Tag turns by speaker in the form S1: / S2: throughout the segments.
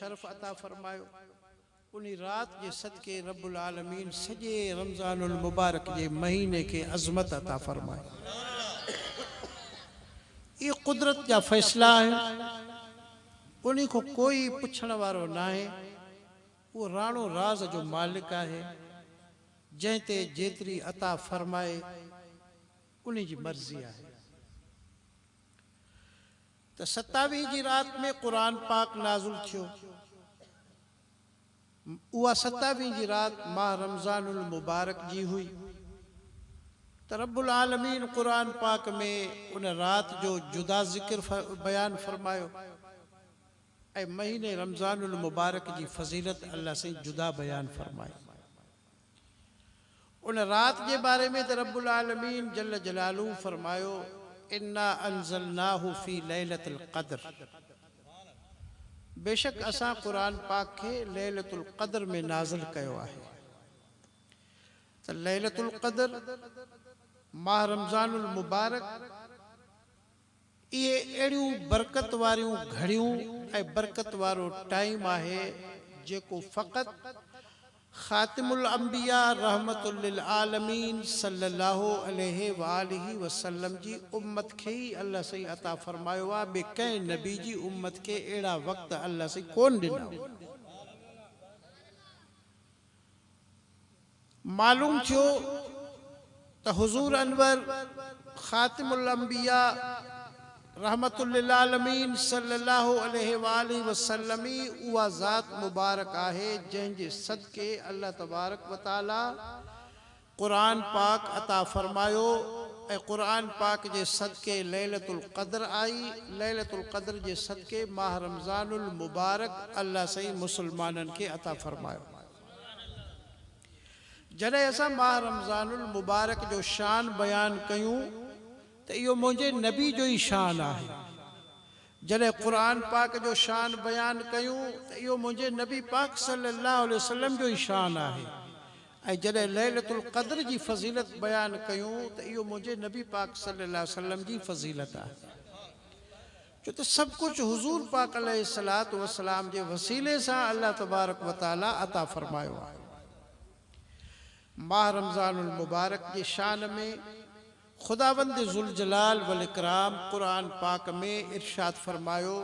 S1: شرف عطا فرمايو انھي رات جي صدقي رب العالمين سڄي رمضان المبارڪ جي مھيني کي عظمت عطا فرمائي اھي قدرت جا فيصلا آھن انھي کان ڪوئي پڇڻ وارو ناھي اھو راڻو راز جو مالڪ آھي جنھن تي جيتري عطا فرمائي انھي جي مرضي آھي ته ستاويهه جي رات ۾ قرآن پاڪ نازل ٿيو. اها ستاويهه جي رات ماهه رمضان المبارڪ جي هئي ته رب العالمين قرآن پاڪ ۾ ان رات جو جدا ذڪر بيان فرمايو ۽ مهيني رمضان المبارڪ جي فضيلت الله سائين جدا بيان فرمائي. ان رات جي باري ۾ ته رب العالمين جل جلاله فرمايو، انا انزلناه في ليلة القدر بيشڪ اسان قرآن پاڪ کي ليلة القدر ۾ نازل ڪيو آهي ته ليلة القدر ماهه رمضان المبارڪ، اهي اهڙيون برڪت واريون گهڙيون ۽ برڪت وارو ٽائيم آهي جيڪو فقط خاتم الانبياء رحمة للعالمين صلّي الله عليه واٰله وسلّم جي امّت کي ئي الله سائين عطا فرمايو آهي ٻي ڪنهن نبي جي امّت کي اهڙا وقت الله سائين ڪونه ڏنا هئا. معلوم ٿيو ته حضور انور خاتم الانبياء رحمة للعالمين صلي الله عليه واٰله وسلم ئي اها ذات مبارڪ آهي جنهن جي صدقي الله تبارڪ وتعاليٰ قرآن پاڪ عطا فرمايو ۽ قرآن پاڪ جي صدقي ليلة القدر آئي، ليلة القدر جي صدقي ماهه رمضان المبارڪ الله سائين مسلمانن کي عطا فرمايو. جڏهن اسان ماهه رمضان المبارڪ جو شان بيان ڪيون ته اهو منهنجي نبي جو ئي شان آهي. جڏهن قرآن پاڪ جو شان بيان ڪيون ته اهو منهنجي نبي پاڪ صلي الله عليه وسلم جو ئي شان آهي ۽ جڏهن ليلة القدر جي فضيلت بيان ڪيون ته اهو منهنجي نبي پاڪ صلي الله عليه وسلم جي فضيلت آهي ڇو ته سڀ ڪجهه حضور پاڪ عليه الصلوة والسلام جي وسيلي سان الله تبارڪ وتعالي عطا فرمايو آهي ماه رمضان المبارڪ جي شان ۾ خداوند ذوالجلال والاڪرام قرآن پاڪ ۾ ارشاد فرمايو،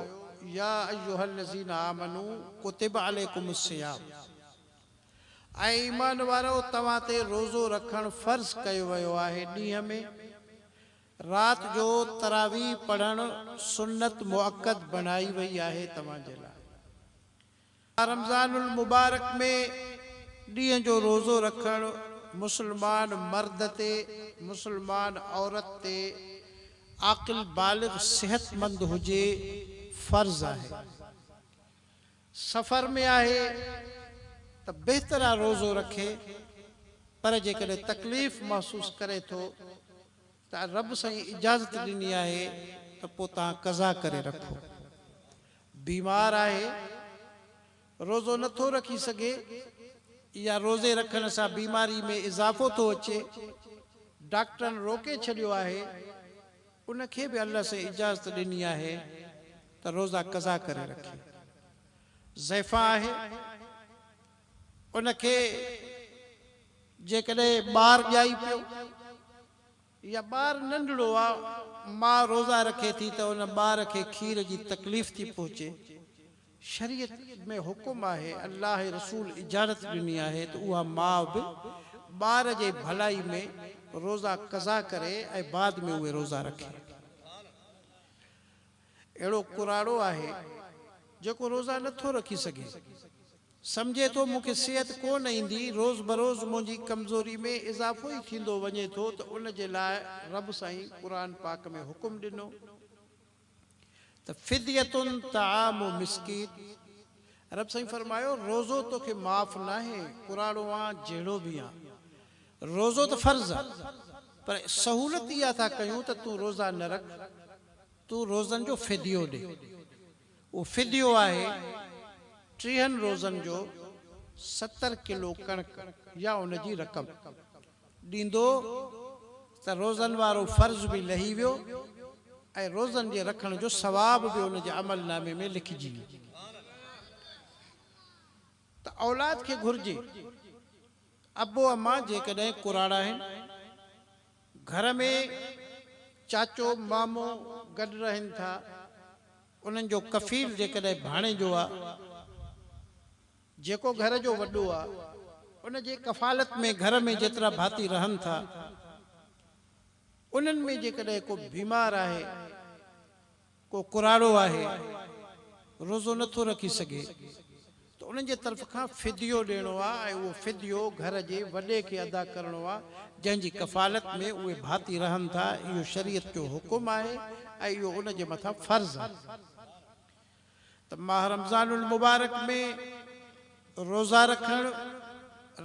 S1: يا ايها الذين آمنو ڪتب عليکم الصيام اي ايمان وارؤ توهان تي روزو رکڻ فرض ڪيو ويو آهي ڏينهن ۾ رات جو تراويح پڙهڻ سنت مؤڪد بڻائي وئي آهي توهان جي لاء رمضان المبارڪ ۾ ڏينهن جو روزو رکڻ مسلمان مرد تي مسلمان عورت تي عاقل بالغ صحتمند هجي فرض آهي. سفر ۾ آهي ته بهتر آهي روزو رکي پر جيڪڏهن تڪليف محسوس ڪري ٿو ته رب سائين اجازت ڏني آهي ته پوء توهان قضا ڪري رکو. بيمار آهي، روزو نه ٿو رکي سگهي يا روزي رکڻ سان بيماري ۾ اضافو ٿو اچي، ڊاڪٽرن روڪي ڇڏيو آهي، ان کي به الله سين اجازت ڏني آهي ته روزا قضا ڪري رکي. ضعفان آهي، ان کي جيڪڏهن ٻار ڄائي پيو يا ٻار ننڍڙو آ ماء روزا رکي ٿي ته ان ٻار کي کير جي تڪليف ٿي پهچي شريعت ۾ حڪم آهي الله رسول اجازت ڏني آهي ته اها ماء به ٻار جي ڀلائي ۾ روزا قضا ڪري ۽ بعد ۾ اهي روزا رکي. اهڙو ڪراڙو آهي، جيڪو روزا نه ٿو رکي سگهي. سمجهي ٿو مون کي صحت ڪو نه ايندي، روز بروز منهنجي ڪمزوري ۾ اضافو ئي ٿيندو وڃي ٿو ته ان جي لاء رب سائين قرآن پاڪ ۾ حڪم ڏنو ته فدية طعام مسڪين رب سائين فرمايو روزو توکي معاف ناهي ڪراڙو آن جهڙو به آن روزو ته فرض آ پر سهولت اها ٿا ڪيون ته تون روزا نه رک. تون روزن جو فديو ڏي. اهو فديو آهي ٽيهن روزن جو ستر ڪلو ڪڻڪ يا ان جي رقم ڏيندو ته روزن وارو فرض به لهي ويو ۽ روزن جي رکڻ جو ثواب به ان جي عمل نامي ۾ لکجي ويو ته اولاد کي گهرجي ته ابو امان جيڪڏهن ڪراڙا آهن. گهر ۾ چاچو مامو گڏ رهن ٿا، انهن جو ڪفيل جيڪڏهن ڀاڻيجو آ، جيڪو گهر جو وڏو آ، ان جي ڪفالت ۾ گهر ۾ جيترا ڀاتي رهن ٿا، انهن ۾ جيڪڏهن ڪو بيمار آهي، ڪو ڪراڙو آهي روزو نه ٿو رکي سگهي ته انهن جي طرف کان فديو ڏيڻو آهي ۽ اهو فديو گهر جي وڏي کي ادا ڪرڻو آهي جنهن جي ڪفالت ۾ اهي ڀاتي رهن ٿا اهو شريعت جو حڪم آهي ۽ اهو ان جي مٿان فرض آهي ته ماهه رمضان المبارڪ ۾ روزا رکڻ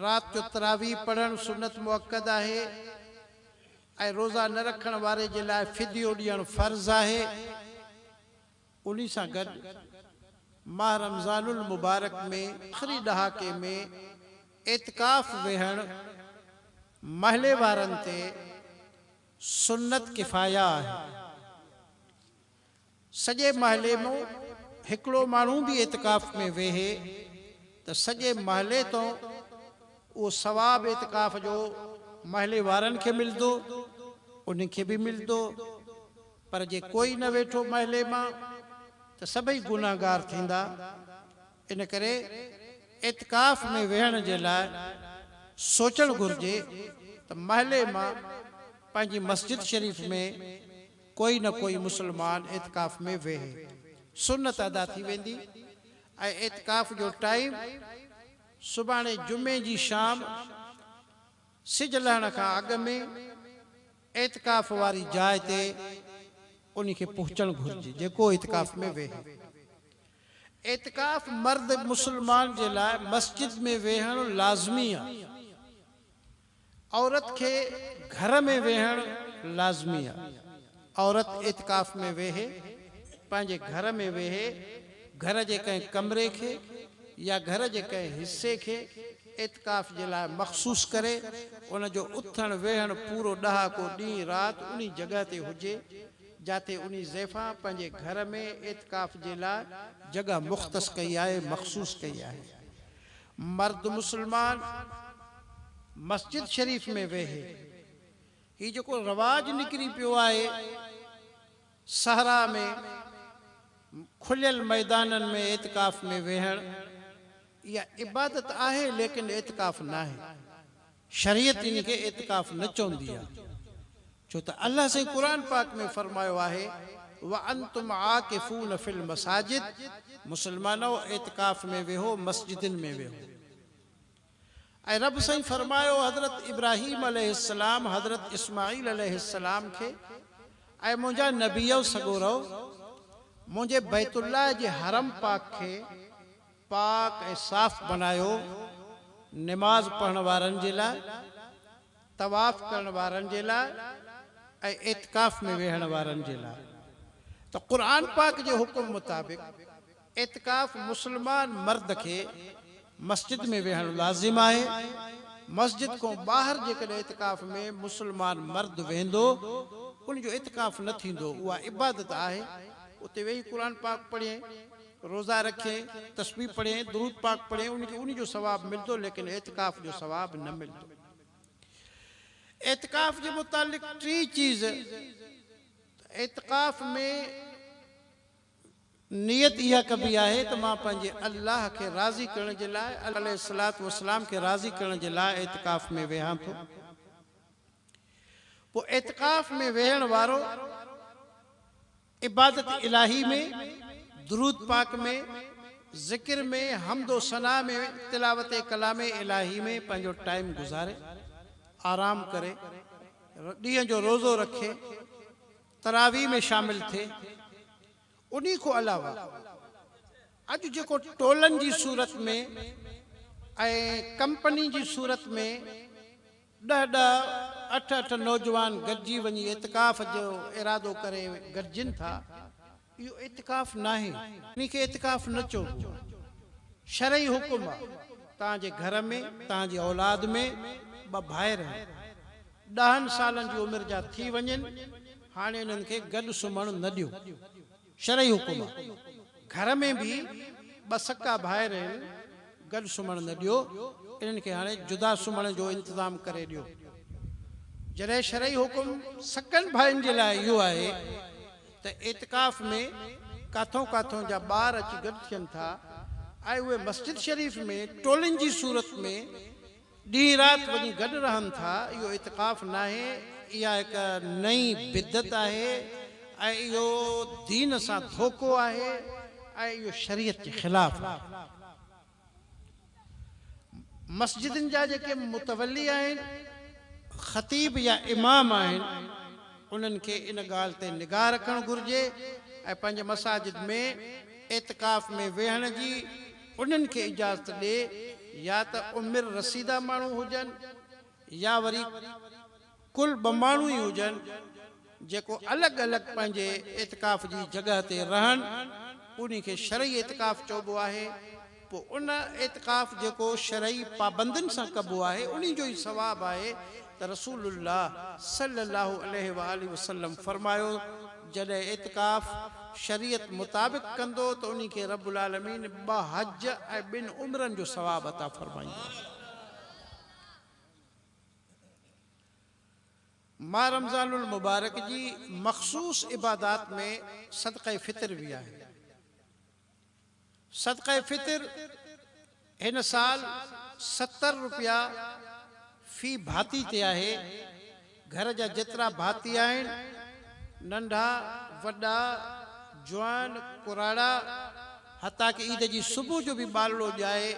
S1: رات جو تراويح پڙهڻ سنت مؤڪد آهي. ۽ روزا نه رکڻ واري جي لاء فديو ڏيڻ فرض آهي، انهي سان گڏ ماه رمضان المبارڪ ۾ آخري ڏهاڪي ۾ اعتڪاف ويهڻ محلي وارن تي سنت ڪفايه آهي. سڄي محلي مون هڪڙو ماڻهو به اعتڪاف ۾ ويهي ته سڄي محلي تون اهو ثواب اعتڪاف جو محلي وارن کي ملدو انهن کي به ملدو پر جي ڪوئي نه ويٺو محلي مان ته سڀئي گنهگار ٿيندا ان ڪري اعتڪاف ۾ ويهڻ جي لاء سوچڻ گهرجي ته محلي مان پنهنجي مسجد شريف ۾ ڪوئي نه ڪوئي مسلمان اعتڪاف ۾ ويهي، سنت ادا ٿي ويندي ۽ اعتڪاف جو ٽائيم سڀاڻي جمعي جي شام سج لهڻ کان اڳ ۾ اعتڪاف واري جاء تي انهي کي پهچڻ گهرجي جيڪو اعتڪاف ۾ ويهي. اعتڪاف مرد مسلمان جي لاء مسجد ۾ ويهڻ لازمي آهي. عورت کي گهر ۾ ويهڻ لازمي آ عورت اعتڪاف ۾ ويهي پنهنجي گهر ۾ ويهي گهر جي ڪنهن ڪمري کي يا گهر جي ڪنهن حصي کي اعتڪاف جي لاء مخصوص ڪري ان جو اٿڻ ويهڻ پورو ڏهاڪو ڏينهن رات انهي جڳهه تي هجي جاتي انهي زيفا پنهنجي گهر ۾ اعتڪاف جي لاء جڳهه مختص ڪئي آهي مخصوص ڪئي آهي مرد مسلمان مسجد شريف ۾ ويهي هي جيڪو رواج نڪري پيو آهي صحرا ۾ کليل ميدانن ۾ اعتڪاف ۾ ويهڻ اها عبادت آهي ليڪن اعتڪاف ناهي. شريعت ان کي اعتڪاف نه چوندي آهي ڇو ته الله سائين قرآن پاڪ ۾ فرمايو آهي وانتم عاڪفون في المساجد مسلمانؤ اعتڪاف ۾ ويهو مسجدن ۾ ويهو ۽ رب سائين فرمايو حضرت ابراهيم عليه السلام حضرت اسماعيل عليه السلام کي اي منهنجا نبيؤ سڳورؤ منهنجي بيت الله جي حرم پاڪ کي پاڪ ۽ صاف بنايو، نماز پڙهڻ وارن جي لاء، طواف ڪرڻ وارن جي لاء ۽ اعتڪاف ۾ ويهڻ وارن جي لاء ته قرآن پاڪ جي حڪم مطابق اعتڪاف مسلمان مرد کي مسجد ۾ ويهڻ لازم آهي، مسجد کون ٻاهر جيڪڏهن اعتڪاف ۾ مسلمان مرد ويهندو ان جو اعتڪاف نه ٿيندو، اها عبادت آهي اتي ويهي قرآن پاڪ پڙهي. روزا رکي، تسبيح پڙهي، درود پاڪ پڙهي ان کي انهي جو ثواب ملدو ليڪن اعتڪاف جو ثواب نه ملدو. اعتڪاف جي متعلق ٽي چيز ته اعتڪاف ۾ نيت اها ڪبي آهي ته مان پنهنجي الله کي راضي ڪرڻ جي لاء الله عليه الصلوة والسلام کي راضي ڪرڻ جي لاء اعتڪاف ۾ ويهان ٿو پوء اعتڪاف ۾ ويهڻ وارو عبادت الاھي ۾ درود پاڪ ۾، ذڪر ۾، حمد و ثنا ۾، تلاوت ڪلام الاھي ۾ پنھنجو ٽائيم گذاري، آرام ڪري، ڏينھن جو روزو رکي، تراويح ۾ شامل ٿئي. انھي کان علاوه اڄ جيڪو ٽولن جي صورت ۾ ۽ ڪمپني جي صورت ۾، ڏهه ڏهه، اٺ اٺ نوجوان گڏجي وڃي اعتڪاف جو ارادو ڪري گڏجن ٿا. اهو اعتڪاف ناهي. ان کي اعتڪاف نه چئبو آهي. شرعي حڪم آهي. توهان جي گهر ۾ توهان جي اولاد ۾ ٻه ڀائر آهن. ڏهن سالن جي عمر جا ٿي وڃن. هاڻي انهن کي گڏ سمهڻ نه ڏيو. شرعي حڪم آ گهر ۾ به ٻه سڪا ڀائر آهن گڏ سمهڻ نه ڏيو انهن کي هاڻي جدا سمهڻ جو انتظام ڪري ڏيو جڏهن شرعي حڪم سڪن ڀائين جي لاء اهو آهي ته اعتڪاف ۾ ڪاٿون ڪاٿون جا ٻار اچي گڏ ٿين ٿا ۽ اهي مسجد شريف ۾ ٽولين جي صورت ۾ ڏينهن رات وڃي گڏ رهن ٿا، اهو اعتڪاف ناهي، اها هڪ نئين بدعت آهي ۽ اهو دين سان ڌوڪو آهي ۽ اهو شريعت جي خلاف آهي. مسجدن جا جيڪي متولي آهن، خطيب يا امام آهن، انهن کي ان ڳالهه تي نگاهه رکڻ گهرجي ۽ پنهنجي مساجد ۾ اعتڪاف ۾ ويهڻ جي انهن کي اجازت ڏي يا ته عمر رسيده ماڻهو هجن يا وري ڪل ٻه ماڻهو ئي هجن جيڪو الڳ الڳ پنهنجي اعتڪاف جي جڳهه تي رهن انهي کي شرعي اعتڪاف چئبو آهي پوء ان اعتڪاف جيڪو شرعي پابندين سان ڪبو آهي انهي جو ئي ثواب آهي ته رسول الله صلي الله عليه واٰله وسلم فرمايو جڏهن اعتڪاف شريعت مطابق ڪندو ته انهي کي رب العالمين ٻه حج ۽ ٻن عمرن جو ثواب عطا فرمائيندو آهي. ماه رمضان المبارڪ جي مخصوص عبادات ۾ صدقه فطر به آهي. صدقه فطر هن سال ستر روپيا في ڀاتي تي آهي، گهر جا جيترا ڀاتي آهن، ننڍا، وڏا، جوان، ڪراڙا، حتيٰ ڪه عيد جي صبح جو به ٻالڙو ڄائي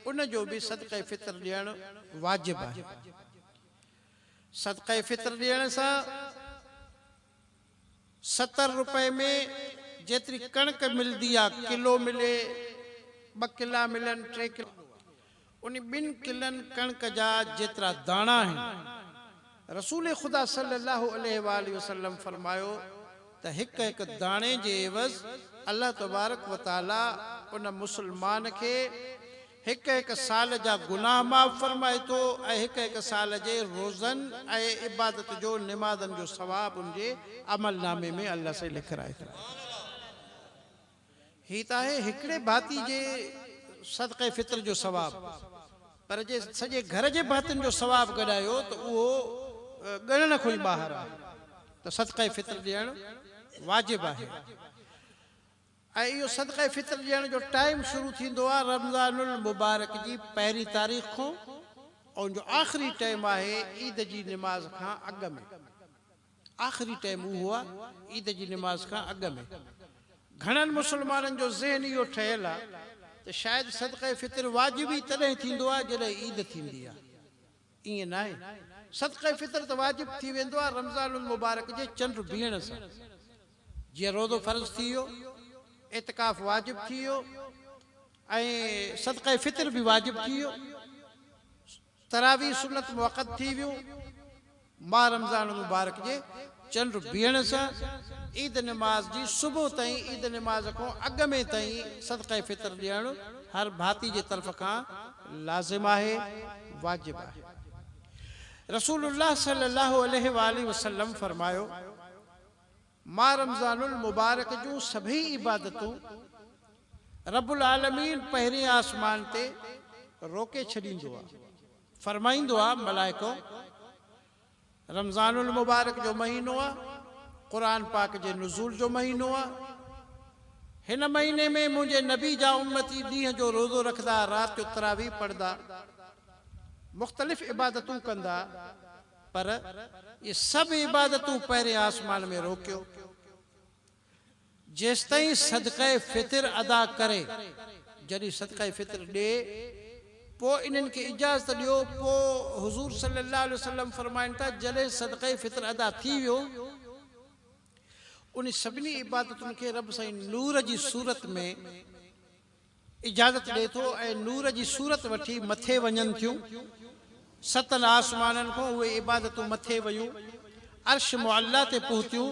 S1: ان جو به صدقه فطر ڏيڻ واجب آهي. صدقه فطر ڏيڻ سان. ستر روپئي ۾ جيتري ڪڻڪ ملدي آ، ڪلو ملي، ٻه ڪلا ملن، ٽي ڪلا. انهي ٻن ڪلن ڪڻڪ جا جيترا داڻا آهن. رسول خدا صلي الله عليه واٰله وسلم فرمايو ته هڪ هڪ داڻي جي عيوض الله تبارڪ وتعاليٰ ان مسلمان کي هڪ هڪ سال جا گناهه معاف فرمائي ٿو ۽ هڪ هڪ سال جي روزن ۽ عبادت جو نمازن جو ثواب ان جي عمل نامي ۾ الله سائين لکرائي ٿو. هي ته آهي هڪڙي ڀاتي جي صدقه فطر جو ثواب پر جي سڄي گهر جي ڀاتين جو ثواب گڏايو ته اهو ڳڻڻ کان ئي ٻاهر آهي ته صدقه فطر ڏيڻ واجب آهي. ۽ اهو صدقه فطر ڏيڻ جو ٽائيم شروع ٿيندو آهي رمضان المبارڪ جي پهرين تاريخ کون اون جو آخري ٽائيم آهي عيد جي نماز کان اڳ ۾. آخري ٽائيم اهو آهي عيد جي نماز کان اڳ ۾. گهڻن مسلمانن جو ذهن اهو ٺهيل آهي ته شايد صدقه فطر واجب ئي تڏهن ٿيندو آهي جڏهن عيد ٿيندي آهي. ائين ناهي، صدقه فطر ته واجب ٿي ويندو آهي رمضان المبارڪ جي چنڊ بيهڻ سان، جيئن روزو فرض ٿي ويو، اعتڪاف واجب ٿي ويو ۽ صدقه فطر به واجب ٿي ويو، تراويح سنت مؤقت ٿي ويون، ماه رمضان المبارڪ جي چنڊ بيهڻ سان عيد نماز جي صبح تائين عيد نماز کان اڳ ۾ تائين صدقه فطر ڏيڻ هر ڀاتي جي طرف کان لازم آهي، واجب آهي. رسول الله صلي الله عليه واٰله وسلم فرمايو، ماه رمضان المبارڪ جون سڀئي عبادتون رب العالمين پهرين آسمان تي روڪي ڇڏيندو آ، فرمائيندو آ، ملائڪو! رمضان المبارڪ جو مهينو آ، قرآن پاڪ جي نزول جو مهينو آ، هن مهيني ۾ منهنجي نبي جا امتي ڏينهن جو روزو رکندا، رات جو تراويح پڙهندا، مختلف عبادتون ڪندا، پر اهي سڀ عبادتون پهرين آسمان ۾ روڪيو. جيستائين صدقه فطر ادا ڪري، جڏهن صدقه فطر ڏئي، پوء انهن کي اجازت ڏيو، پوء حضور صلي الله عليه وسلم فرمائن ٿا، جڏهن صدقه فطر ادا ٿي ويو، انهي سڀني عبادتن کي رب سائين نور جي صورت ۾، اجازت ڏئي ٿو ۽ نور جي صورت وٺي مٿي وڃن ٿيون. ستن آسمانن کان اهي عبادتون مٿي ويون، عرش معليٰ تي پهتيون،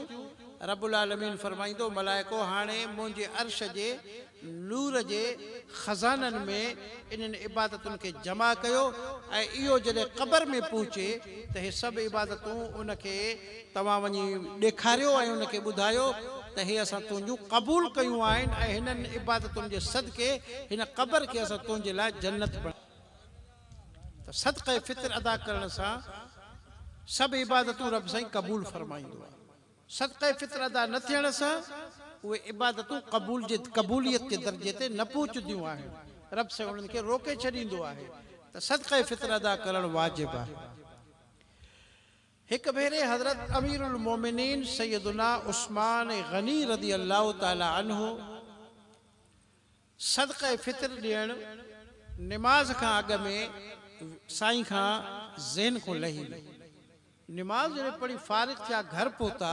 S1: رب العالمين فرمائيندو، ملائڪو هاڻي منهنجي عرش جي نور جي خزانن ۾ انهن عبادتن کي جمع ڪيو ۽ اهو جڏهن قبر ۾ پهچي ته هي سڀ عبادتون ان کي توهان وڃي ڏيکاريو ۽ ان کي ٻڌايو ته هي اسان تنهنجون قبول ڪيون آهن ۽ هنن عبادتن جي صدقي هن قبر کي اسان تنهنجي لاء جنت بڻايو آهي ته صدقه فطر ادا ڪرڻ سان سڀ عبادتون رب سائين قبول فرمائيندو آهي صدقه فطر ادا نه ٿيڻ سان اهي عبادتون قبول جي قبوليت جي درجي تي نه پهچنديون آهن رب سائين انهن کي روڪي ڇڏيندو آهي ته صدقه فطر ادا ڪرڻ واجب آهي هڪ ڀيري حضرت امير المومنين سيدنا عثمان غني رضي الله تعالٰي عنه صدقه فطر ڏيڻ نماز کان اڳ ۾ سائين کان ذهن کون لهي ويو. نماز جڏهن پڙهي فارغ ٿيا گهر پهتا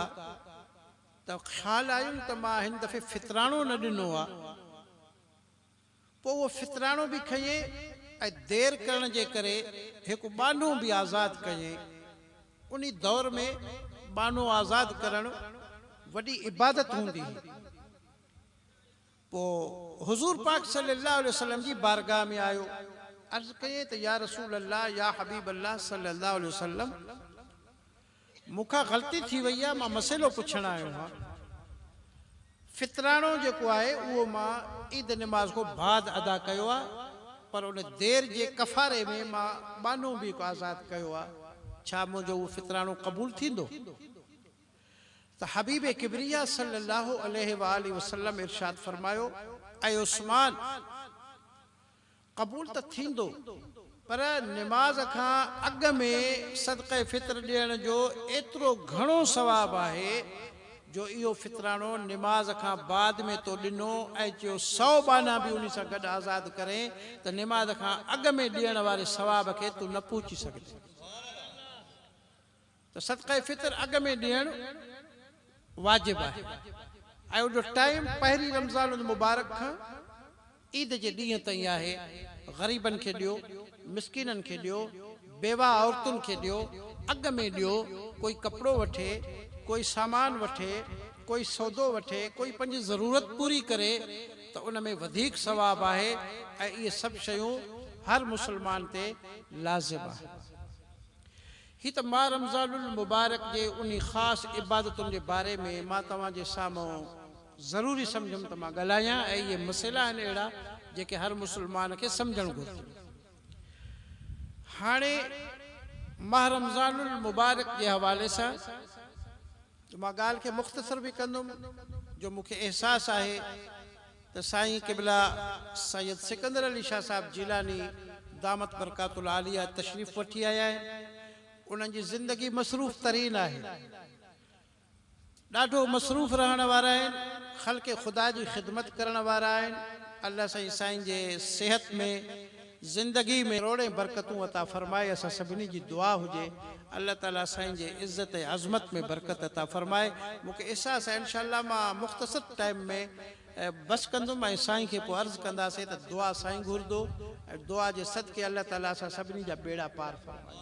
S1: ته خيال آيم ته مان هن دفعي فطرانو نه ڏنو آ. پوء اهو فطراڻو به کنئين ۽ دير ڪرڻ جي ڪري هڪ ٻانهو به آزاد ڪيئين. انهي دور ۾ ٻانهو آزاد ڪرڻ وڏي عبادت هوندي هئي. پوء حضور پاڪ صلي الله عليه وسلم جي بارگاهه ۾ آيو، عرض ڪيئين ته يا رسول الله يا حبيب الله صلي الله عليه وسلم! مون کان غلطي ٿي وئي آ مان مسئلو پڇڻ آيو هان فطراڻو جيڪو آهي اهو مان عيد نماز کون بعد ادا ڪيو آ پر ان دير جي ڪفاري ۾ مان ٻانهو به هڪ آزاد ڪيو آ ڇا منهنجو اهو فطراڻو قبول ٿيندو ته حبيب ڪبريا صلي الله عليه واٰله وسلم ارشاد فرمايو اي عثمان! قبول ته ٿيندو پر نماز کان اڳ ۾ صدقه فطر ڏيڻ جو ايترو گهڻو ثواب آهي جو اهو فطراڻو نماز کان بعد ۾ تو ڏنو ۽ چيو سؤ ٻانها به انهي سان گڏ آزاد ڪرين ته نماز کان اڳ ۾ ڏيڻ واري ثواب کي تون نه پهچي سگهندين. ته صدقه فطر اڳ ۾ ڏيڻ واجب آهي ۽ ان جو ٽائيم پهرين رمضان المبارڪ کان عيد جي ڏينهن تائين آهي، غريبن کي ڏيو، مسڪينن کي ڏيو، بيواهه عورتن کي ڏيو، اڳ ۾ ڏيو، ڪوئي ڪپڙو وٺي، ڪوئي سامان وٺي، ڪوئي سودو وٺي، ڪوئي پنهنجي ضرورت پوري ڪري ته ان ۾ وڌيڪ ثواب آهي ۽ اهي سڀ شيون هر مسلمان تي لازم آهن. هي ته ماه رمضان المبارڪ جي انهي خاص عبادتن جي باري ۾ مان توهان جي سامهون ضروري سمجهيم ته مان ڳالهايان ۽ اهي مسئلا آهن اهڙا جيڪي هر مسلمان کي سمجهڻ گهرجن. هاڻي ماه رمضان المبارڪ جي حوالي سان ته مان ڳالهه کي مختصر به ڪندم جو مون کي احساس آهي ته سائين قبلا سيد سڪندر علي شاهه صاحب جيلاني دامت برڪاته العاليه تشريف وٺي آيا آهن. انهن جي زندگي مصروف ترين آهي. ڏاڍو مصروف رهڻ وارا آهن. خلق خدا جي خدمت ڪرڻ وارا آهن. الله سائين سائين جي صحت ۾ زندگي ۾ روڙين برڪتون عطا فرمائي اسان سڀني جي دعا هجي الله تعالي سائين جي عزت ۽ عظمت ۾ برڪت عطا فرمائي مون کي احساس آهي انشاء الله مان مختصر ٽائيم ۾ بس ڪندم ۽ سائين کي پوء عرض ڪنداسين ته دعا سائين گهردو ۽ دعا جي صدقي الله تعالي اسان سڀني جا بيڙا پار فرمائي.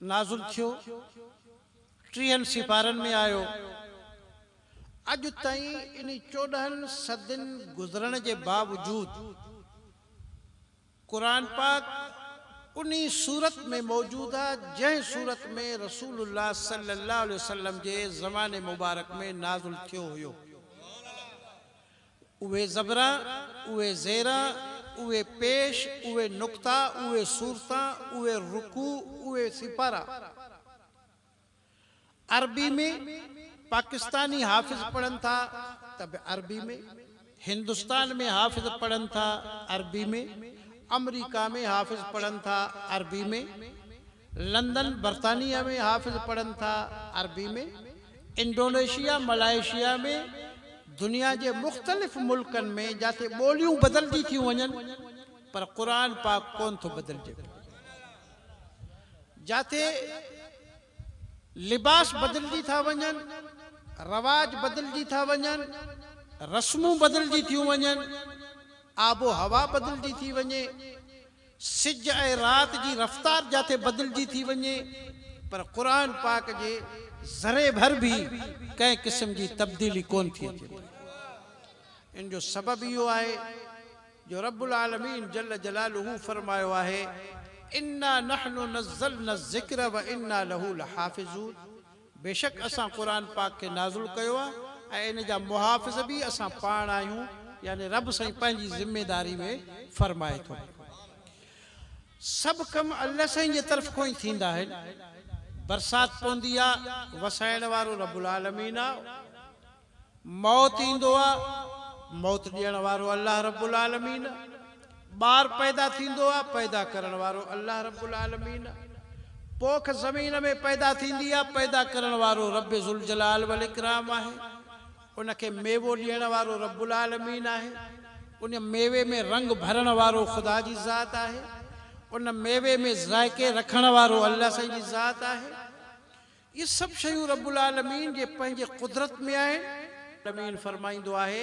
S1: نازل ٿيو، ٽيهن سيپارن ۾ آيو. اڄ تائين انهي چوڏهن صدين گذرڻ جي باوجود قرآن پاڪ انهي صورت ۾ موجود آ جنهن صورت ۾ رسول الله صلي الله عليه وسلم جي زماني مبارڪ ۾ نازل ٿيو هيو. اهي زبرا، اهي زيرا، اهي پيش، اهي نقطا، اهي صورتا، اهي رڪوع، اهي سيپارا. عربي ۾ پاڪستاني حافظ پڙهن ٿا ته به عربي ۾، هندستان ۾ حافظ پڙهن ٿا عربي ۾، آمريڪا ۾ حافظ پڙهن ٿا عربي ۾. لندن، برطانيه ۾ حافظ پڙهن ٿا عربي ۾، انڊونيشيا، ملائيشيا ۾، دنيا جي مختلف ملڪن ۾ جاتي ٻوليون بدلجي ٿيون وڃن پر قرآن پاڪ ڪون ٿو بدلجي پيو، جاتي لباس بدلجي ٿا وڃن، رواج بدلجي ٿا وڃن، رسمون بدلجي ٿيون وڃن، آب و هوا بدلجي ٿي وڃي، سج ۽ رات جي رفتار جاٿي بدلجي ٿي وڃي پر قرآن پاڪ جي ذري ڀر به ڪنهن قسم جي تبديلي ڪونه ٿي اچي پئي. ان جو سبب اهو آهي جو رب العالمين جل جلاله فرمايو آهي، انا نحن نزلنا الذڪر وانا له لحافظون، بيشڪ اسان قرآن پاڪ کي نازل ڪيو آهي ۽ ان جا محافظ به اسان پاڻ آهيون يعني رب سائين پنهنجي ذميداري ۾ فرمائي ٿو سڀ ڪم الله سائين جي طرف کون ئي ٿيندا آهن برسات پوندي آهي وسائڻ وارو رب العالمين آهي. موت ايندو آ، موت ڏيڻ وارو الله رب العالمين آ. ٻار پيدا ٿيندو آ، پيدا ڪرڻ وارو الله رب العالمين آ. پوک زمين ۾ پيدا ٿيندي آ، پيدا ڪرڻ وارو رب ذوالجلال والاڪرام آهي. ان کي ميوو ڏيڻ وارو رب العالمين آهي. ان ميوي ۾ رنگ ڀرڻ وارو خدا جي ذات آهي. ان ميوي ۾ ذائقي رکڻ وارو الله سائين جي ذات آهي. اهي سڀ شيون رب العالمين جي پنهنجي قدرت ۾ آهن. العالمين فرمائيندو آهي،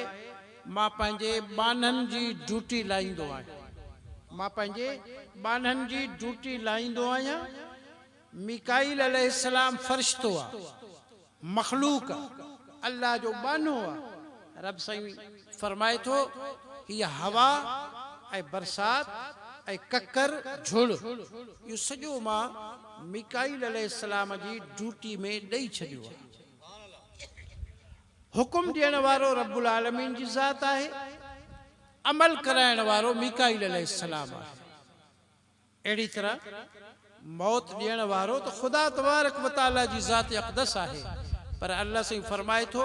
S1: مان پنهنجي ٻانهن جي ڊيوٽي لائيندو آهيان. مان پنهنجي ٻانهن جي ڊيوٽي لائيندو آهيان. ميڪائيل عليه السلام فرشتو آهي، مخلوق آهي، الله جو ٻانهو آهي. رب سائين فرمائي ٿو، هيء هوا ۽ برسات ۽ ڪڪر جھڙ، اهو سڄو مان ميڪائيل عليه السلام جي ڊيوٽي ۾ ڏئي ڇڏيو آهي. حڪم ڏيڻ وارو رب العالمين جي ذات آهي، عمل ڪرائڻ وارو ميڪائيل عليه السلام آهي. اهڙي طرح موت ڏيڻ وارو ته خدا تبارڪ و تعاليٰ جي ذات اقدس آهي پر الله سائين فرمائي ٿو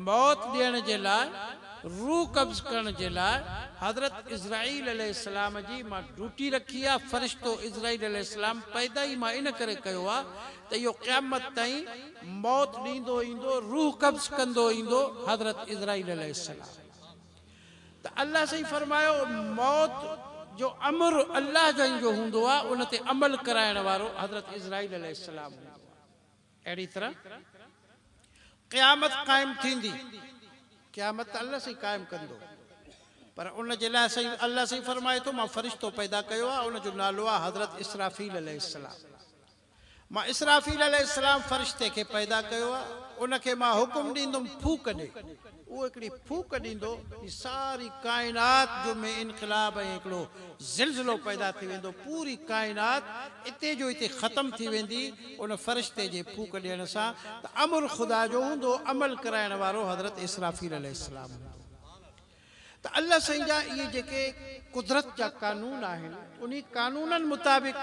S1: موت ڏيڻ جي لاء، روح قبض ڪرڻ جي لاء حضرت عزرائيل عليه السلام جي مان ڊوٽي رکي آ، فرشتو عزرائيل عليه السلام پيدا ئي مان ان ڪري ڪيو آ ته اهو قيامت تائين موت ڏيندو ايندو، روح قبض ڪندو ايندو، حضرت عزرائيل عليه السلام. ته الله سائين فرمايو موت جو امر الله جن جو هوندو آ ان تي عمل ڪرائڻ وارو حضرت عزرائيل عليه السلام هوندو آ اهڙي طرح قيامت قائم ٿيندي قيامت ته الله سائين قائم ڪندو پر ان جي لاء سائين الله سائين فرمائي ٿو مان فرشتو پيدا ڪيو آ ان جو نالو آ حضرت اسرافيل عليه السلام مان اسرافيل عليه السلام فرشتي کي پيدا ڪيو آهي، ان کي مان حڪم ڏيندم ڦوڪ ڏي، اهو هڪڙي ڦوڪ ڏيندو جي ساري ڪائنات جو ۾ انقلاب ۽ هڪڙو زلزلو پيدا ٿي ويندو، پوري ڪائنات اتي جو اتي ختم ٿي ويندي ان فرشتي جي ڦوڪ ڏيڻ سان ته امر خدا جو هوندو، عمل ڪرائڻ وارو حضرت اسرافيل عليه السلام هوندو. ته الله سائين جا اهي جيڪي قدرت جا قانون آهن انهي قانونن مطابق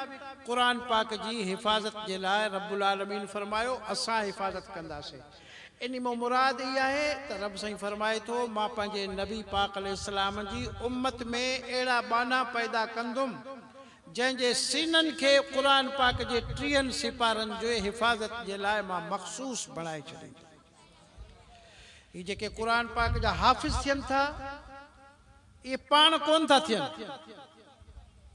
S1: قرآن پاڪ جي حفاظت جي لاء رب العالمين فرمايو اسان حفاظت ڪنداسين انهي مان مراد اهي آهي ته رب سائين فرمائي ٿو مان پنهنجي نبي پاڪ عليه السلام جي امت ۾ اهڙا ٻانها پيدا ڪندم جنهن جي سينن کي قرآن پاڪ جي ٽيهن سپارن جي حفاظت جي لاء مان مخصوص بڻائي ڇڏيندم. هي جيڪي قرآن پاڪ جا حافظ ٿين ٿا اهي پاڻ ڪونه ٿا ٿين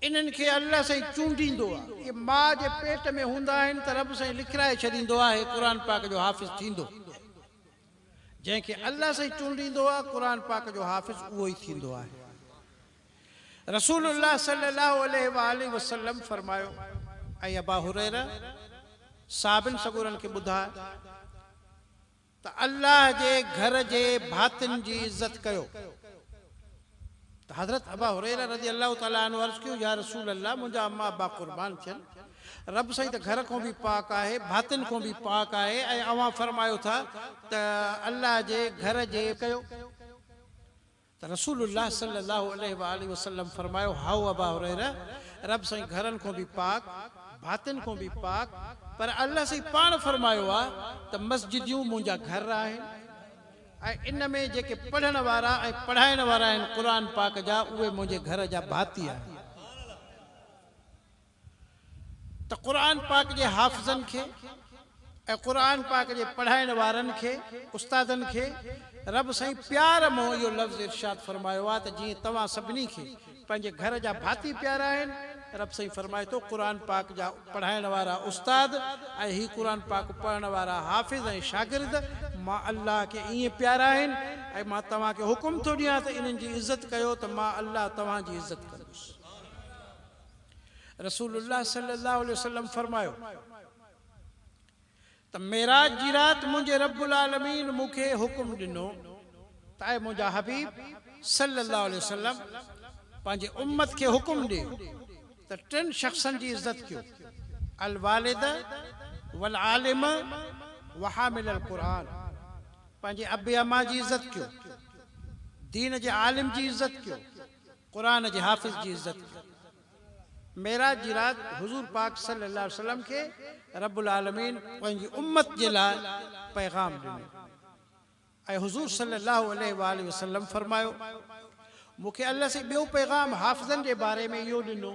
S1: انهن کي الله سائين چونڊيندو آهي اهي ماء جي پيٽ ۾ هوندا آهن ته رب سائين لکرائي ڇڏيندو آهي قرآن پاڪ جو حافظ ٿيندو جنهن کي الله سائين چونڊيندو آهي قرآن پاڪ جو حافظ اهو ئي ٿيندو آهي. رسول الله صلّي الله عليه واٰله وسلّم فرمايو، اي ابا هريره! صحابين سڳورن کي ٻڌاء ته الله جي گهر جي ڀاتين جي عزت ڪيو ته حضرت ابا هريره رضي الله تعالٰي عنه عرض ڪيو، يا رسول الله! منهنجا اما ابا قربان ٿين، رب سائين ته گهر کان به پاڪ آهي، ڀاتين کان به پاڪ آهي ۽ اوهان فرمايو ٿا ته الله جي گهر جي ڪيو ته رسول الله صلّي الله عليه واٰله وسلّم فرمايو، هائو ابا هريره! رب سائين گهرن کان به پاڪ، ڀاتين کان به پاڪ، پر الله سائين پاڻ فرمايو آهي ته مسجديون منهنجا گهر آهن ۽ ان ۾ جيڪي پڙهڻ وارا ۽ پڙهائڻ وارا آهن قرآن پاڪ جا، اهي منهنجي گهر جا ڀاتي آهن. ته قرآن پاڪ جي حافظن کي ۽ قرآن پاڪ جي پڙهائڻ وارن کي، استادن کي، رب سائين پيار منهن اهو لفظ ارشاد فرمايو آهي ته جيئن توهان سڀني کي پنهنجي گهر جا ڀاتي پيارا آهن، رب سائين فرمائي ٿو قرآن پاڪ جا پڙهائڻ وارا استاد ۽ هي قرآن پاڪ پڙهڻ وارا حافظ ۽ شاگرد مان الله کي ائين پيارا آهن ۽ مان توهان کي حڪم ٿو ڏيان ته انهن جي عزت ڪيو ته مان الله توهان جي عزت ڪندس. رسول الله صلي الله عليه وسلم فرمايو ته معراج جي رات منهنجي رب العالمين مون کي حڪم ڏنو ته اي منهنجا حبيب صلي الله عليه وسلم پنهنجي امت کي حڪم ڏي ته ٽن شخصن جي عزت ڪيو الوالد والعالم وحامل القرآن پنهنجي ابي اما جي عزت ڪيو دين جي عالم جي عزت ڪيو قرآن جي حافظ جي عزت ڪئي. معراج جي رات حضور پاڪ صلي الله عليه وسلم کي رب العالمين پنهنجي امت جي لاء پيغام ڏنو ۽ حضور صلي الله عليه وآله وسلم فرمايو، مون کي الله سين ٻيو پيغام حافظن جي باري ۾ اهو ڏنو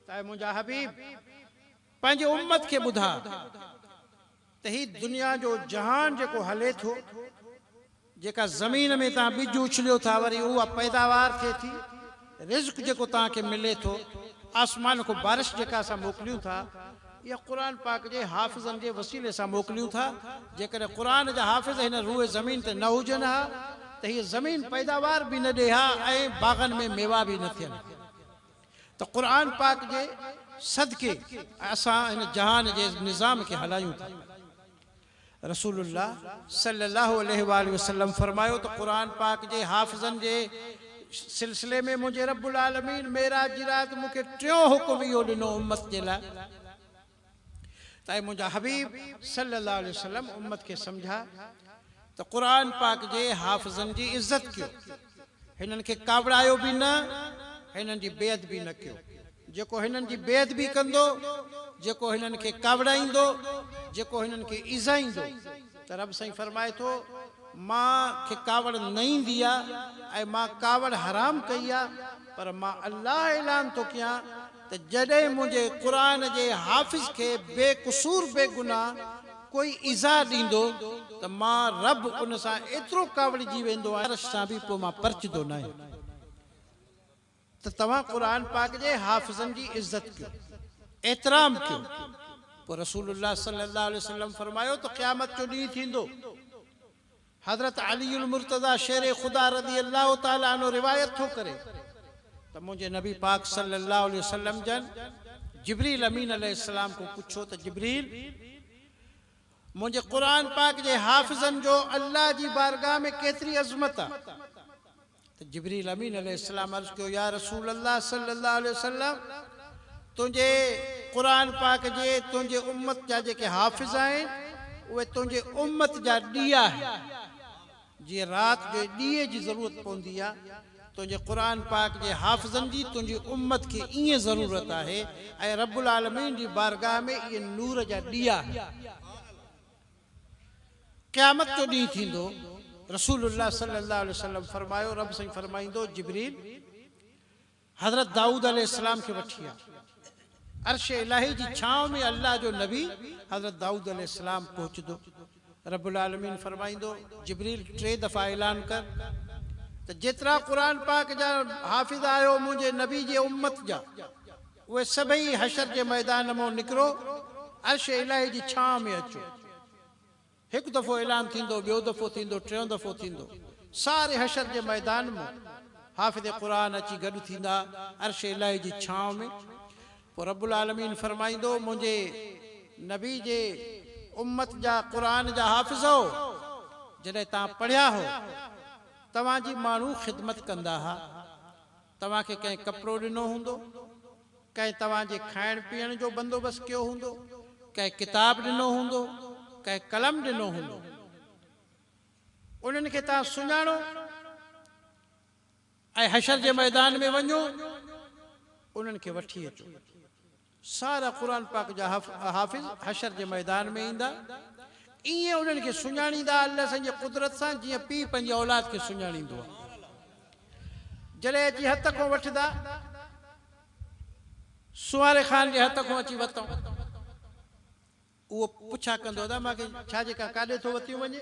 S1: ته اي منهنجا حبيب! پنهنجي امت کي ٻڌاء. ته هي دنيا جو جهان جيڪو هلي ٿو، جيڪا زمين ۾ توهان ٻج اڇليو ٿا وري اها پيداوار ٿئي ٿي، رزق جيڪو توهان کي ملي ٿو، آسمان کان بارش جيڪا اسان موڪليون ٿا، اها قرآن پاڪ جي حافظن جي وسيلي سان موڪليون ٿا، جيڪڏهن قرآن جا حافظ هن روئي زمين تي نه هجن ها ته هيء زمين پيداوار به نه ڏئي ها ۽ باغن ۾ ميوا به نه ٿين ها. ته قرآن پاڪ جي صدقي اسان هن جهان جي نظام کي هلايون ٿا. رسول الله صلي الله عليه واٰله وسلم فرمايو ته قرآن پاڪ جي حافظن جي سلسلي ۾ منهنجي رب العالمين معراج جي رات مون کي ٽيون حڪم اهو ڏنو امت جي لاء، ته اي منهنجا حبيب صلّي الله عليه وسلّم امّت کي سمجھاء ته قرآن پاڪ جي حافظن جي عزّت ڪيو، هنن کي ڪاوڙايو به نه، هنن جي بي ادبي نه ڪيو، جيڪو هنن جي بي ادبي ڪندو، جيڪو هنن کي ڪاوڙائيندو، جيڪو هنن کي ايذائيندو ته ربّ سائين فرمائي ٿو، مان کي ڪاوڙ نه ايندي آ ۽ مان ڪاوڙ حرام ڪئي آ، پر مان الله اعلان ٿو ڪيان ته جڏهن منهنجي قرآن جي حافظ کي بي قصور بي گناهه ڪوئي ايذاء ڏيندو ته مان رب ان سان ايترو ڪاوڙجي ويندو آهيان ته عرش سان به پوء مان پرچدو ناهيان ته توهان قرآن پاڪ جي حافظن جي عزت ڪيو احترام ڪيو پوء رسول الله صلي الله عليه وسلم فرمايو ته قيامت جو ڏينهن ٿيندو حضرت علي المرتضيٰ شير خدا رضي الله تعالٰي عنه روايت ٿو ڪري ته منهنجي نبي پاڪ صلّي الله عليه وسلّم جن جبريل امين عليه السّلام کان پڇيو ته جبريل! منهنجي قرآن پاڪ جي حافظن جو الله جي بارگاھ ۾ ڪيتري عظمت آ؟ ته جبريل امين عليه السلام عرض ڪيو، يا رسول الله صلّي الله عليه وسلّم! تنهنجي، قرآن پاڪ جي، تنهنجي امّت جا جيڪي حافظ آهن، اهي تنهنجي امّت جا ڏيئا آهن. جيئن رات جو ڏيئي جي ضرورت پوندي آهي، تنهنجي قرآن پاڪ جي حافظن جي تنهنجي امّت کي ائين ضرورت آهي ۽ ربّ العالمين جي بارگاهه ۾ اهي نور جا ڏيئا آهن. قيامت جو ڏينهن ٿيندو، رسول الله صلي الله عليه وسلم فرمايو، رب سائين فرمائيندو، جبريل! حضرت دائود عليه السلام کي وٺي آ. عرش الاهي جي ڇانو ۾ الله جو نبي حضرت دائود عليه السلام پهچدو. رب العالمين فرمائيندو، جبريل ٽي دفعا اعلان ڪر ته جيترا قرآن پاڪ جا حافظ آهيو منهنجي نبي جي امت جا، اهي سڀئي حشر جي ميدان مون نڪرو عرش الاهي جي ڇانء ۾ اچو. هڪ دفعو اعلان ٿيندو، ٻيو دفعو ٿيندو، ٽيون دفعو ٿيندو. ساري حشر جي ميدان مون حافظ قرآن اچي گڏ ٿيندا عرش الاهي جي ڇانء ۾. پوء رب العالمين فرمائيندو، منهنجي نبي جي امت جا قرآن جا حافظؤ! جڏهن توهان پڙهيا هئو، توهان جي ماڻهو خدمت ڪندا ها. توهان کي ڪنهن ڪپڙو ڏنو هوندو، ڪنهن توهان جي کائڻ پيئڻ جو بندوبست ڪيو هوندو، ڪنهن ڪتاب ڏنو هوندو، ڪنهن قلم ڏنو هوندو. انهن کي توهان سڃاڻو ۽ حشر جي ميدان ۾ وڃو انهن کي وٺي اچو. سارا قرآن پاڪ جا حافظ حشر جي ميدان ۾ ايندا، ايئن انهن کي سڃاڻيندا الله سائين جي قدرت سان جيئن پيء پنهنجي اولاد کي سڃاڻيندو آهي. جڏهن اچي هٿ کون وٺندا، سونهاري خان جي هٿ کون اچي وتئون. اهو پڇا ڪندو ادا مان کي ڇا جي ڪا ڪاڏي ٿو وتيون وڃي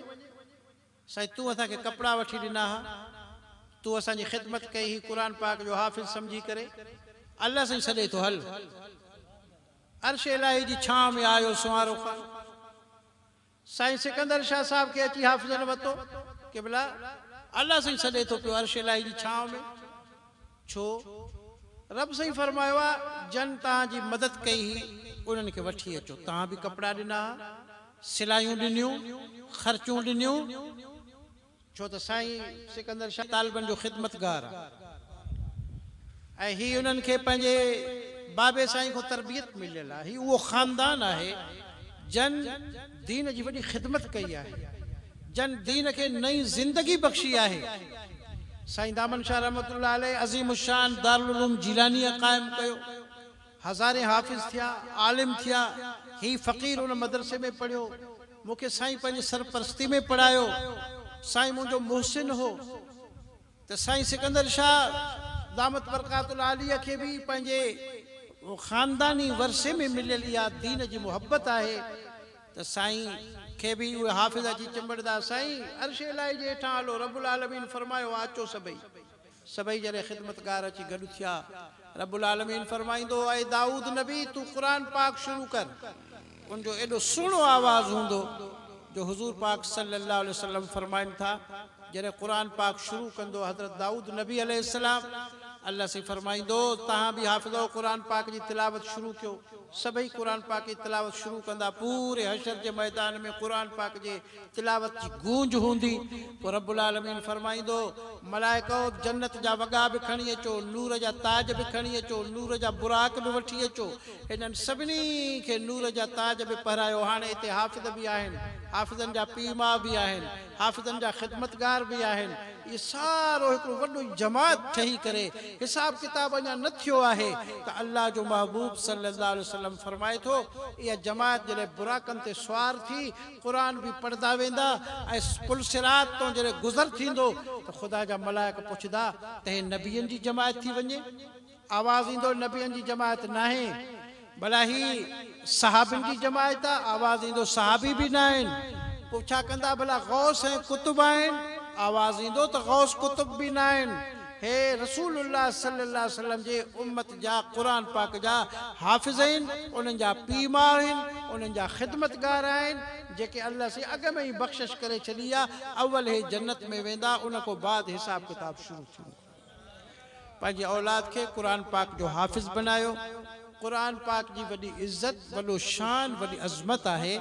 S1: سائين تون اسان کي ڪپڙا وٺي ڏنا ها تون اسان جي خدمت ڪئي هي قرآن پاڪ جو حافظ سمجهي ڪري الله سائين سڏي ٿو هل عرش الاهي جي ڇانو ۾ آيو سونهارو خان سائين سڪندر شاهه صاحب کي اچي حافظن وتو قبلا الله سائين سڏي ٿو پيو عرش الاهي جي ڇانو ۾ ڇو؟ رب سائين فرمايو آ، جن توهان جي مدد ڪئي هئي، انهن کي وٺي اچو. توهان به ڪپڙا ڏنا ها، سلايون ڏنيون، خرچون ڏنيون، ڇو ته سائين سڪندر شاهه طالبن جو خدمتگار آ ۽ هي انهن کي پنهنجي بابي سائين کان تربيت مليل آ. هي اهو خاندان آهي، جن دين جي وڏي خدمت ڪئي آهي. جن دين کي نئين زندگي بخشي آهي. سائين دامن شاهه رحمة الله عليه عظيم الشان دارالعلوم جيلانيه قائم ڪيو. هزارين حافظ ٿيا، عالم ٿيا. هي فقير ان مدرسي ۾ پڙهيو. مون کي سائين پنهنجي سرپرستي ۾ پڙهايو. سائين منهنجو محسن هو. ته سائين سڪندر شاهه دامت برڪات العاليه کي به پنهنجي خانداني ورثي ۾ مليل اها دين جي محبت آهي ته سائين کي به اهي حافظ اچي چنبڙدا سائين عرش الاهي جي هيٺان هلو رب العالمين فرمايو آهي اچو سڀئي سڀئي جڏهن خدمتگار اچي گڏ ٿيا رب العالمين فرمائيندو اي دائود نبي تون قرآن پاڪ شروع ڪر. ان جو ايڏو سهڻو آواز هوندو جو حضور پاڪ صلي الله عليه وسلم فرمائن ٿا جڏهن قرآن پاڪ شروع ڪندو حضرت دائود نبي عليه السلام الله سائين فرمائيندو توهان به حافظؤ قرآن پاڪ جي تلاوت شروع ڪيو سڀئي قرآن پاڪ جي تلاوت شروع ڪندا پوري حشر جي ميدان ۾ قرآن پاڪ جي تلاوت جي گونج هوندي، پوء رب العالمين فرمائيندو، ملائڪؤ! جنت جا وڳا به کڻي اچو، نور جا تاج به کڻي اچو، نور جا براق به وٺي اچو. هنن سڀني کي نور جا تاج به پهرايو. هاڻي هتي حافظ به آهن، حافظن جا پيء ماء به آهن، حافظن جا خدمتگار به آهن. اهي سارو هڪڙو وڏو جماعت ٺهي ڪري، حساب ڪتاب اڃا نه ٿيو آهي ته الله جو محبوب صلّي اللّٰه عليه وسلّم فرمائي ٿو، اها جماعت جڏهن براقن تي سوار ٿي، قرآن به پڙهندا ويندا ۽ پل صراط تان جڏهن گذر ٿيندو ته خدا جا ملائڪ پڇندا ته هي نبين جي جماعت ٿي وڃي؟ آواز ايندو نبين جي جماعت ناهي ڀلا هي صحابين جي جماعت آ؟ آواز ايندو صحابي به ناهن پوء ڇا ڪندا ڀلا غوث ۽ قطب آهن؟ آواز ايندو ته غوث قطب به ناهن هي رسول الله صلي الله عليه وسلم جي امت جا قرآن پاڪ جا حافظ آهن، انهن جا پيء ماء آهن، انهن جا خدمتگار آهن، جيڪي الله سين اڳ ۾ ئي بخشش ڪري ڇڏي آ، اول هي جنت ۾ ويندا ان کان بعد حساب ڪتاب شروع ٿيندو. پنهنجي اولاد کي قرآن پاڪ جو حافظ بنايو، قرآن پاڪ جي وڏي عزت، وڏو شان، وڏي عظمت آهي.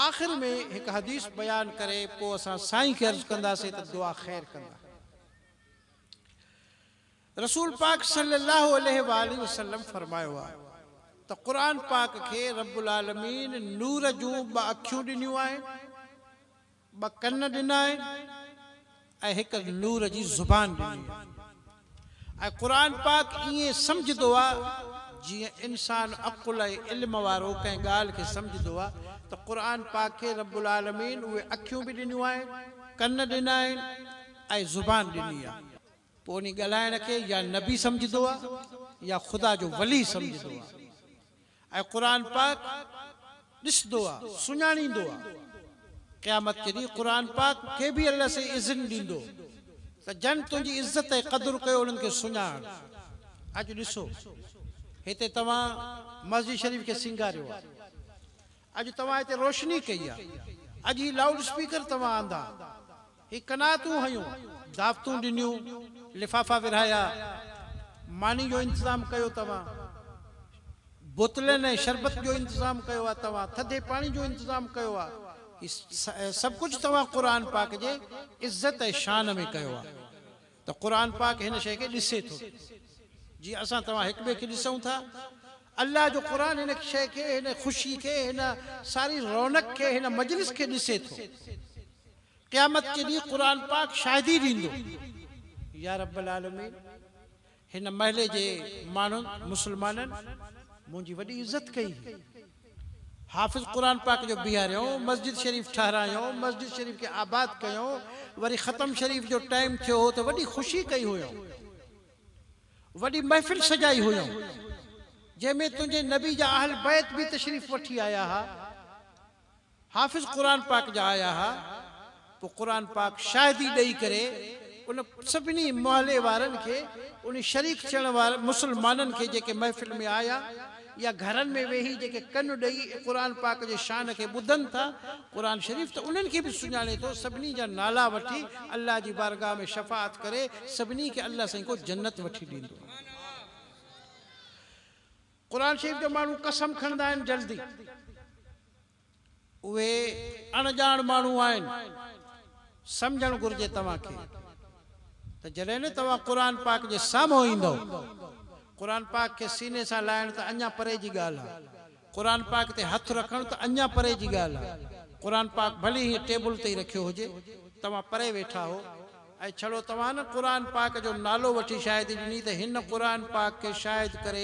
S1: آخر ۾ هڪ حديث بيان ڪري پوء اسان سائين کي عرض ڪنداسين ته دعا خير ڪندا. رسول پاڪ صلي الله عليه واٰله وسلم فرمايو آهي ته قرآن پاڪ کي رب العالمين نور جون ٻه اکيون ڏنيون آهن، ٻه ڪن ڏنا آهن ۽ هڪ نور جي زبان ڏني آهي ۽ قرآن پاڪ ائين سمجهندو آهي جيئن انسان عقل ۽ علم وارو ڪنهن ڳالهه کي سمجهندو آهي ته قرآن پاڪ کي رب العالمين اهي اکيون به ڏنيون آهن، ڪن ڏنا آهن ۽ زبان ڏني آهي. پوء انهي ڳالهائڻ کي يا نبي سمجهندو آ يا خدا جو ولي سمجهندو آ ۽ قرآن پاڪ ڏسندو آ سڃاڻيندو آ. قيامت جي ڏينهن قرآن پاڪ کي به الله سائين اذن ڏيندو ته جن تنهنجي عزت ۽ قدر ڪيو انهن کي سڃاڻ. اڄ ڏسو هتي توهان مسجد شريف کي سينگاريو آ. اڄ توهان هتي روشني ڪئي آ، اڄ هي لائوڊ اسپيڪر توهان آندا، هي قناعتون هنيون، دعوتون ڏنيون، لفافا ورهايا، ماني جو انتظام ڪيو توهان، بوتلين ۽ شربت جو انتظام ڪيو آ توهان، ٿڌي پاڻي جو انتظام ڪيو آ، هي سڀ ڪجهه توهان قرآن پاڪ جي عزت ۽ شان ۾ ڪيو آ. ته قرآن پاڪ هن شيء کي ڏسي ٿو جيئن اسان توهان هڪ ٻئي کي ڏسون ٿا. الله جو قرآن هن شيء کي، هن خوشي کي، هن ساري رونق کي، هن مجلس کي ڏسي ٿو. قيامت جي ڏينهن قرآن پاڪ شاهدي ڏيندو، يا رب العالمين! هن محلي جي ماڻهن، مسلمانن، منهنجي وڏي عزت ڪئي هئي. حافظ قرآن پاڪ جو بيهاريائون، مسجد شريف ٺهرايائون، مسجد شريف کي آباد ڪيائون، وري ختم شريف جو ٽائيم ٿيو هو ته وڏي خوشي ڪئي هئائون، وڏي محفل سجائي هئائون، جنهن ۾ تنهنجي نبي جا اهل بيت به تشريف وٺي آيا ها. حافظ قرآن پاڪ جا آيا ها، پوء قرآن پاڪ شاهدي ڏئي ڪري ان سڀني محلي وارن کي ان شريڪ ٿيڻ وارن مسلمانن کي جيڪي محفل ۾ آيا يا گهرن ۾ ويهي جيڪي ڪن ڏئي قرآن پاڪ جي شان کي ٻڌن ٿا، قرآن شريف ته انهن کي به سڃاڻي ٿو، سڀني جا نالا وٺي الله جي بارگاهه ۾ شفاعت ڪري سڀني کي الله سائين ڪو جنت وٺي ڏيندو. قرآن شريف جو ماڻهو قسم کڻندا آهن جلدي اهي اڻ ڄاڻ ماڻهو آهن سمجهڻ گهرجي توهان کي ته جڏهن نه توهان قرآن پاڪ جي سامهون ايندؤ قرآن پاڪ کي سيني سان لائڻ ته اڃان پري جي ڳالهه آهي قرآن پاڪ تي هٿ رکڻ ته اڃان پري جي ڳالهه آهي قرآن پاڪ ڀلي هيئن ٽيبل تي ئي رکيو هجي توهان پري ويٺا هو ۽ ڇڙو توهان نه قرآن پاڪ جو نالو وٺي شاهدي ڏني ته هن قرآن پاڪ کي شاهد ڪري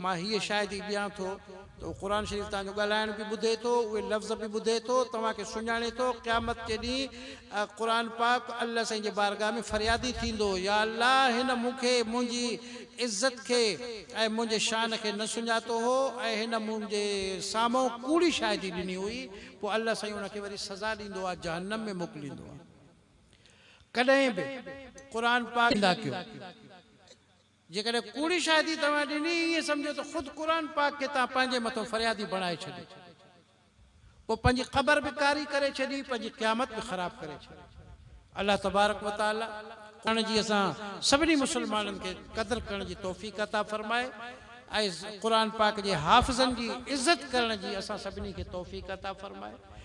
S1: مان هيء شاهدي ڏيان ٿو ته اهو قرآن شريف توهان جو ڳالهائڻ به ٻڌي ٿو، اهي لفظ به ٻڌي ٿو، توهان کي سڃاڻي ٿو، قيامت جي ڏينهن قرآن پاڪ الله سائين جي بارگاهه ۾ فريادي ٿيندو، يا الله هن مون کي منهنجي عزت کي ۽ منهنجي شان کي نه سڃاتو هو ۽ هن منهنجي سامهون ڪوڙي شاهدي ڏني هئي، پوء الله سائين ان کي وري سزا ڏيندو آ، جهنم ۾ موڪليندو آ. ڪڏهن به قرآن پاڪ جي نندا ڪيو. جيڪڏهن ڪوڙي شاهدي توهان ڏني ۽ ائين سمجهيو ته خود قرآن پاڪ کي توهان پنهنجي مٿو فريادي بڻائي ڇڏيو پوء پنهنجي قبر به ڪاري ڪري ڇڏي پنهنجي قيامت به خراب ڪري ڇڏي. الله تبارڪ و تعالي قرآن جي اسان سڀني مسلمانن کي قدر ڪرڻ جي توفيق عطا فرمائي ۽ قرآن پاڪ جي حافظن جي عزت ڪرڻ جي اسان سڀني کي توفيق عطا فرمائي.